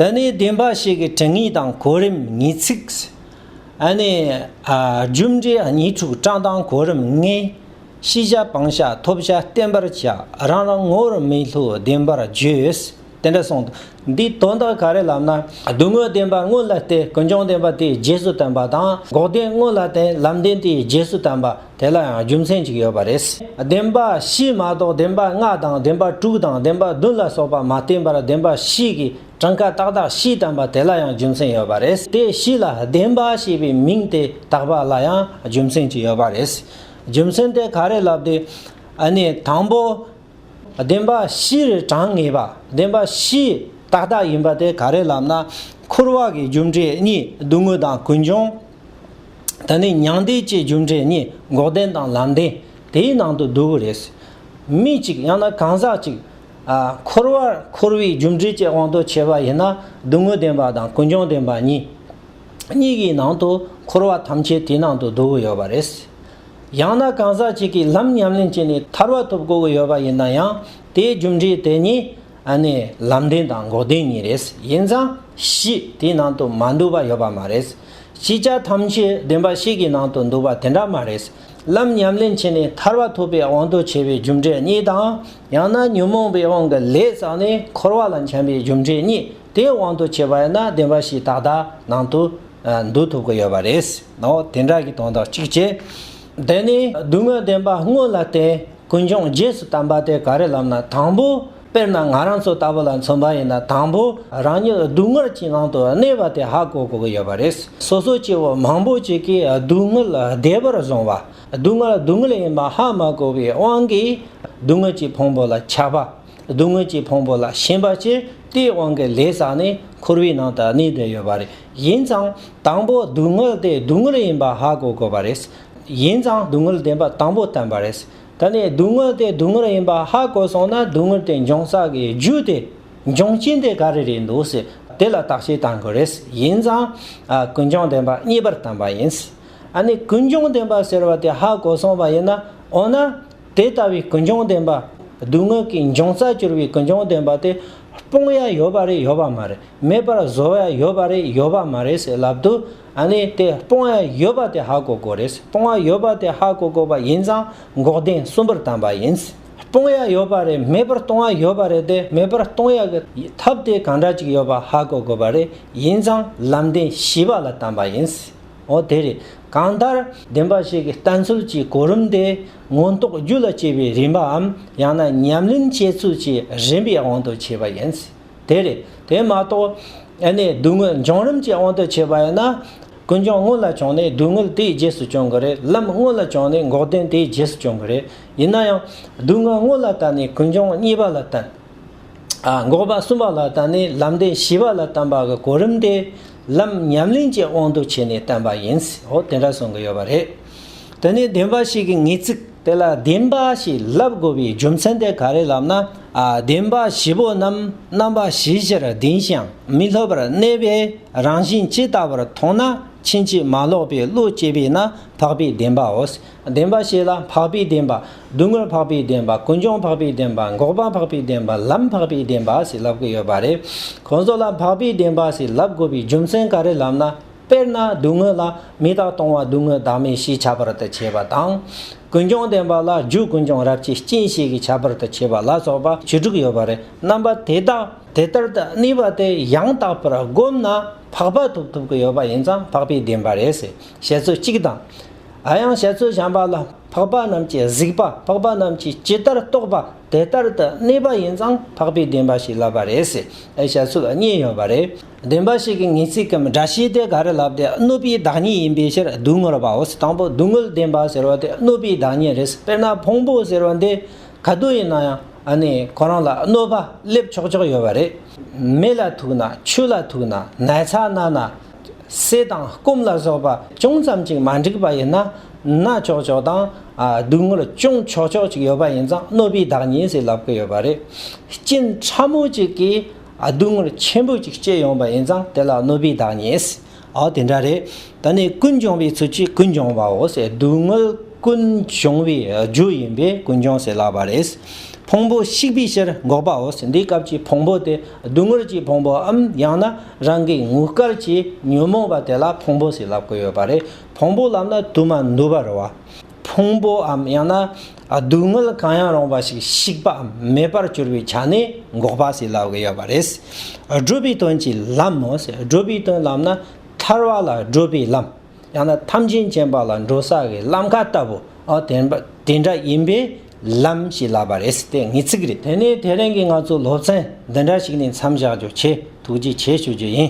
དེ་ནས་བདེན་པ་ཞིག་གི་དྲི་ངེས་དང་གོ་རིམ་ངེས་ཚིགས། ཨ་ནི། རྒྱུ་འབྲས་གཉིས་དྲུག་བཀྲག་མདངས་གོ་རིམ་ལྔའི། ཤེས་བྱ་སྤང་བྱ་ཐོབ་བྱ་བསྟན་པར་བྱ། རང་རང་ངོ་བོར་མི་སླུ་བདེན་པར་བརྗོད། དེ་འདྲ་གསུངས། འདིའི་དོན་དག་ག་རེ་ལབ་ན། སྡུག་བསྔལ་བདེན་པ་དངོས་ལ་བརྟེན་ཀུན་འབྱུང་བདེན་པ་དེའི་རྗེས་སུ་དོན་པ་དང། འགོག་བདེན་དངོས་ལ་བརྟེན་ལམ་བདེན་དེའི་རྗེས་སུ་དོན་པ། དེ་ལ་ཡང་རྒྱུ་མཚན་གཅིག་ཡོད་པ་རེད། བདེན་པ་བཞི་མ་གཏོགས་བདེན་པ་ལྔ་དང་བདེན་པ་དྲུག་དང་བདེན་པ་བདུན་ལ་སོགས་པ་མ་བསྟན་པར་བདེན་པ་བཞི་གི་གྲངས་ཀ་ཏག་ཏག་བཞི་བསྟན་པ་དེ་ལ་ཡང་རྒྱུ་མཚན་ཡོད་པ་རེད། དེ་བཞི་ལ་བདེན་པ་ཞེས་པའི་མིང་དེ་དག་པ་ལ་ཡང་རྒྱུ་མཚན་གཅིག་ཡོད་པ་རེད། རྒྱུ་མཚན་དེ་ག་རེ་ལབ་སྟེ། དང་པོ། བདེན་པ་བཞིར་གྲངས་ངེས་པ་བདེན་པ་བཞི་ཏག་ཏག་ཡིན་པ་དེ་ག་རེ་ལབ་ན། འཁོར་བ་གི་རྒྱུ་འབྲས་གཉིས་སྡུག་བསྔལ་དང་ཀུན་འབྱུང། ད་ནི་མྱང་འདས་བཅས་རྒྱུ་འབྲས་གཉིས་འགོག་བདེན་དང་ལམ་བདེན་དེའི་ནང་དུ་འདུ་བོ་རེད། མི་གཅིག་ཡང་ན་གང་ཟག་ཅིག། འཁོར་བར་འཁོར་བའི་རྒྱུ་འབྲས་བཅས་དབང་དུ་བྱས་པ་ཡིན་ན་སྡུག་བསྔལ་བདེན་པ་དང་ཀུན་འབྱུང་བདེན་པ་གཉིས། གཉིས་ཀྱི་ནང་དུ་འཁོར་བ་ཐམས་ཅད་དེའི་ནང་དུ་འདུ་བོ་ཡོད་པ་རེད། ཡང་ན་གང་ཟག་གཅིག་གིས་ལམ་ཉམས་ལེན་བྱས་ནས་ཐར་བ་ཐོབ་དགོས་ཀྱི་ཡོད་པ་ཡིན་ན་ཡང་དེའི་རྒྱུ་འབྲས་དེ་གཉིས་ནི་ལམ་བདེན་དང་འགོག་བདེན་གཉིས་རེད། ཡིན་ཙང་གཞི་དེའི་ནང་དུ་མ་འདུ་བ་ཡོད་པ་མ་རེད། ཅི་བྱ་ཐམས་ཅད་བདེན་པ་ཞིག་གི་ནང་དུ་འདུ་བ་དེ་འདྲ་མ་རེད། ལམ་ཉམས་ལེན་བྱས་ནས་ཐར་བ་ཐོབ་པའི་དབང་དུ་བྱས་པའི་རྒྱུ་འབྲས་གཉིས་དང་ཡང་ན་ཉོན་མོངས་པའི་དབང་གིས་ལས་བསགས་ནས་འཁོར་བ་ལ་འཁྱམས་པའི་རྒྱུ་འབྲས་གཉིས་དེའི་དབང་དུ་བྱས་པ་ཡིན་ན་བདེན་པ་ཞིག་ཏག་ཏག་ནང་དུ་འདུག་ཐུབ་ཀྱི་ཡོད་པ་རེད། འོ་དེ་འདྲ་ཞིག་དོན་དག་ཅིག་བྱེད། དེ་ནས་སྡུག་བསྔལ་བདེན་པ་དངོས་ལ་བརྟེན་ཀུན་འབྱུང་རྗེས་སུ་དམ་པ་དེ་ག་རེ་ལབ་ན་དང་པོ། དཔེར་ན་ང་རང་ཚོ་ལྟ་བུ་ལ་མཚོན་པ་ཡིན་ན་དང་པོ་རང་ཉིད་སྡུག་བསྔལ་གྱི་ནང་དུ་གནས་པ་དེ་ཧ་གོ་དགོས་ཀྱི་ཡོད་པ་རེད། སོ་སོ་སྐྱེ་བོ་མང་པོ་ཅིག་གིས་སྡུག་བསྔལ་བདེ་བར་བཟུང་བ། སྡུག་བསྔལ་སྡུག་བསྔལ་ཡིན་པ་ཧ་མ་གོ་བའི་དབང་གིས་སྡུག་བསྔལ་གྱི་ཕུང་པོ་ལ་ཆགས་པ། སྡུག་བསྔལ་གྱི་ཕུང་པོ་ལ་ཞེན་པ་སྐྱེས་དེའི་དབང་གིས་ལས་བསགས་ནས་འཁོར་བའི་ནང་དུ་གནས་བསྡད་ཡོད་པ་རེད་ཡིན་ཙང་དང་པོ་སྡུག་བསྔལ་དེ་སྡུག་བསྔལ་ཡིན་པ་ཧ་གོ་དགོས་པ་རེད་ཡིན་ཙང་སྡུག་བསྔལ་བདེན་པ་དང་པོ་བསྟན་པ་རེད་དེ་ནས་སྡུག་བསྔལ་དེ་སྡུག་བསྔལ་ཡིན་པ་ཧ་གོ་སོང་ན་སྡུག་བསྔལ་དེ་འབྱུང་ས་གི་རྒྱུ་དེ་འབྱུང་རྐྱེན་དེ་ག་རེ་རེད་འདུག་ཟེར་དེ་ལ་བརྟག་དཔྱད་བཏང་དགོས་རེད་ཡིན་ཙང་ཀུན་འབྱུང་བདེན་པ་གཉིས་པར་བསྟན་པ་ཡིན་ཨ་ནི་ཀུན་འབྱུང་བདེན་པ་ཟེར་བ་དེ་ཧ་གོ་སོང་བ་ཡིན་ན་འོ་ན། དེ་ལྟ་བུའི་ཀུན་འབྱུང་བདེན་པ། སྡུག་བསྔལ་གྱི་འབྱུང་རྩ་གྱུར་པའི་ཀུན་འབྱུང་བདེན་པ་དེ། སྤོང་ཡ་ཡོད་པ་རེད་ཡོད་པ་མ་རེད། མེད་པར་བཟོ་ཡ་ཡོད་པ་རེད་ཡོད་པ་མ་རེད་ཟེར་ལབ་འདུག་ཨ་ནི་དེ་སྤོང་ཡ་ཡོད་པ་དེ་ཧ་གོ་དགོས་རེད། སྤོང་ཡ་ཡོད་པ་དེ་ཧ་གོ་དགོས་པ་ཡིན་ཙང་འགོག་བདེན་གསུམ་པར་བལྟམས་པ་ཡིན། སྤོང་ཡ་ཡོད་པ་རེད་མེད་པར་གཏོང་ཡ་ཡོད་པ་རེད་དེ་མེད་པར་གཏོང་ཡ་གི་ཐབས་དེ་གང་འདྲ་ཅིག་ཡོད་པ་ཧ་གོ་དགོས་པ་རེད་ཡིན་ཙང་ལམ་བདེན་བཞི་པ་ལ་བལྟམས་པ་ཡིན། འོ་དེ་རེད། གང་ལྟར། བདེན་པ་ཞིག་གི་ལྟ་ཚུལ་གྱི་གོ་རིམ་དེ། མངོན་རྟོགས་རྒྱུད་ལ་སྐྱེས་པའི་རིམ་པའམ་ཡང་ན་ཉམས་ལེན་བྱེད་ཚུལ་གྱི་རིམ་པའི་དབང་དུ་བྱས་པ་ཡིན། དེ་རེད། དེ་མ་གཏོགས། ཨ་ནི་སྡུག་བསྔལ་འབྱུང་རིམ་གྱི་དབང་དུ་བྱས་པ་ཡིན་ན། ཀུན་འབྱུང་སྔོན་ལ་བྱུང་ནས་སྡུག་བསྔལ་དེའི་རྗེས་སུ་སྐྱོང་གི་རེད་ལམ་སྔོན་ལ་བྱུང་ནས་འགོག་བདེན་དེའི་རྗེས་སུ་སྐྱོང་གི་རེད། ཡིན་ན་ཡང། སྡུག་བསྔལ་སྔོན་ལ་བལྟ་ནས་ཀུན་འབྱུང་གཉིས་པ་ལ་བལྟ། འགོག་པ་གསུམ་པ་ལ་བལྟ་ནས་ལམ་བདེན་བཞི་པ་ལ་བལྟ་བ་གི་གོ་རིམ་དེ། ལམ་ཉམས་ལེན་གྱི་དབང་དུ་བྱས་ནས་བསྟན་པ་ཡིན། འོ་དེ་འདྲ་གསུང་གི་ཡོད་པ་རེད། དེ་ནས་བདེན་པ་ཞིག་གི་ངེས་ཚིག་དེ་ལ་བདེན་པ་ཞེས་ལབ་དགོས་པའི་རྒྱུ་མཚན་དེ་ག་རེ་ལབ་ན། བདེན་པ་བཞི་པོ་རྣམས་རྣམ་པ་བཞི་བཞིར་བདེན་ཞིང་མི་སློབ་པར་གནས་པའི་རང་བཞིན་ཇི་ལྟ་བུར་མཐོང་ན་ཕྱིན་ཅི་མ་ལོག་པའི་བློ་སྐྱེས་པས་ན་འཕགས་པའི་བདེན་པའོ། བདེན་པ་ཞེས་ལ་འཕགས་པའི་བདེན་པ། བསྡུ་དངོས་འཕགས་པའི་བདེན་པ། ཀུན་འབྱུང་འཕགས་པའི་བདེན་པ། འགོག་པ་འཕགས་པའི་བདེན་པ། ལམ་འཕགས་པའི་བདེན་པ་ཞེས་ལབ་དགོས་ཡོད་པ་རེད། ཁོང་ཚོ་ལ་འཕགས་པའི་བདེན་པ་ཞེས་ལབ་དགོས་པའི་རྒྱུ་མཚན་ག་རེ་ལབ་ན། དཔེར་ན་བསྡུ་དངོས་ལ་མི་བདག་སྟོང་བ་བསྡུ་དངོས་བདག་མེད་ཞེས་བྱ་བར་དུ་བྱས་པ་དང། ཀུན་འབྱུང་བདེན་པ་ལ་རྒྱུ་ཀུན་འབྱུང་རབ་བྱེད་སྐྱེ་མཆེད་ཀྱི་ཁྱད་པར་དུ་བྱས་པ་ལ་སོགས་པ་བཅུ་དྲུག་ཡོད་པ་རེད། རྣམ་པ་དེ་དག་དེ་ལྟར་དུ་གནས་པ་དེ་ཡང་དག་པར་བསྒོམས་ན་འཕགས་པ་ཐོབ་ཐུབ་ཀྱི་ཡོད་པ་ཡིན་ཙང་འཕགས་པའི་བདེན་པ་རེད་ཟེར་བཤད་ཚུལ་གཅིག་དང། ད་ཡང་བཤད་ཚུལ་བྱམས་པ་ལ་འཕགས་པ་རྣམས་ཀྱི་གཟིགས་པ་འཕགས་པ་རྣམས་ཀྱིས་ཇི་ལྟར་རྟོགས་པ་དེ་ལྟར་དུ་གནས་པ་ཡིན་ཙང་འཕགས་པའི་བདེན་པ་ཞིག་ལབ་པ་རེད་ཟེར་བའི་བཤད་ཚུལ་གཉིས་ཡོད་པ་རེད། བདེན་པ་ཞིག་གི་ངེས་ཚིག་གམ་སྒྲ་ཤེས་དེ་ག་རེ་ལབ་དེ་གནོད་པའི་བདག་ཉིད་ཡིན་པའི་ཕྱིར་སྡུག་བསྔལ་བའོ་ཟེར་དང་པོ་སྡུག་བསྔལ་བདེན་པ་ཟེར་བ་དེ་གནོད་པའི་བདག་ཉིད་རེད་དཔེར་ན་ཕུང་པོ་ཟེར་བ་འདི་ག་དུས་ཡིན་ན་ཡང་ནི་ཁོ་རང་ལ་གནོད་པ་སླེབས་ཆོག་ཆོག་ཡོད་པ་རེད། མེ་ལ་ཐུག་ན་ཆུ་ལ་ཐུག་ན་ནགས་ཚལ་ན་ན། བསྲེ་དང་སྐོམ་ལ་སོགས་པ་ཅུང་ཙམ་ཅིག་མ་འགྲིག་པ་ཡིན་ན། ན་ཅོག་ཅོག་དང། སྡུག་བསྔལ་ཅུང་ཆོག་ཆོག་ཅིག་ཡོད་པ་ཡིན་ཙང་གནོད་པའི་བདག་ཉིད་ཟེར་ལབ་ཀི་ཡོད་པ་རེད། སྐྱེན་ཕྲ་མོ་ཅིག་གིས་སྡུག་བསྔལ་ཆེན་པོ་ཅིག་སྐྱེས་ཡོང་པ་ཡིན་ཙང་དེ་ལ་གནོད་པའི་བདག་ཉིད་ཟེར། འོ་དེ་འདྲ་རེད། ད་ནི་ཀུན་འབྱུང་བའི་ཚུལ་གྱིས་ཀུན་འབྱུང་བའོ་ཟེར་སྡུག་བསྔལ་ཀུན་འབྱུང་བའི་རྒྱུ་ཡིན་པས་ཀུན་འབྱུང་ཟེར་ལབ་པ་རེད། ཕུང་པོ་བཤིག་པའི་ཕྱིར་འགོག་པའོ་ཟེར་འདི་སྐབས་ཀྱི་ཕུང་པོ་དེ། སྡུག་བསྔལ་གྱི་ཕུང་པོའམ་ཡང་ན་རང་གི་ངུ་སྐར་གྱི་ཉོན་མོངས་པ་དེ་ལ་ཕུང་པོ་ཞེས་ལབ་ཀྱི་ཡོད་པ་རེད། ཕུང་པོ་ལབ་ན་དུ་མ་འདུ་བར་རོ། ཕུང་པོའམ་ཡང་ན་སྡུག་བསྔལ་གང་ཡང་རུང་བ་ཞིག་བཤིག་པའམ་མེད་པར་གྱུར་པའི་ཆ་ནས་འགོག་པ་ཞེས་ལབ་ཀྱི་ཡོད་པ་རེད། སྒྲུབ་པའི་དོན་གྱིས་ལམ་མོ། སྒྲུབ་པའི་དོན་ལམ་ན་ཐར་བ་ལ་སྒྲུབ་པའི་ལམ། ཡང་ན་ཐམས་ཅད་མཁྱེན་པ་ལ་འགྲོ་ས་ཀྱི་ལམ་ཁ་ལྟ་བུ། དེ་འདྲ་ཡིན་པས་ལམ་ཞེས་ལབ་པ་རེད་དེ་ངེས་ཚིག་རེད། དེ་ནས་དེ་རིང་གི་ང་ཚོའི་སློབ་ཚན་འདི་འདྲ་ཞིག་ནས་མཚམས་བཞག་རྒྱུ་ཆེད་ཐུགས་རྗེ་ཆེ་ཞུ་རྒྱུ་ཡིན།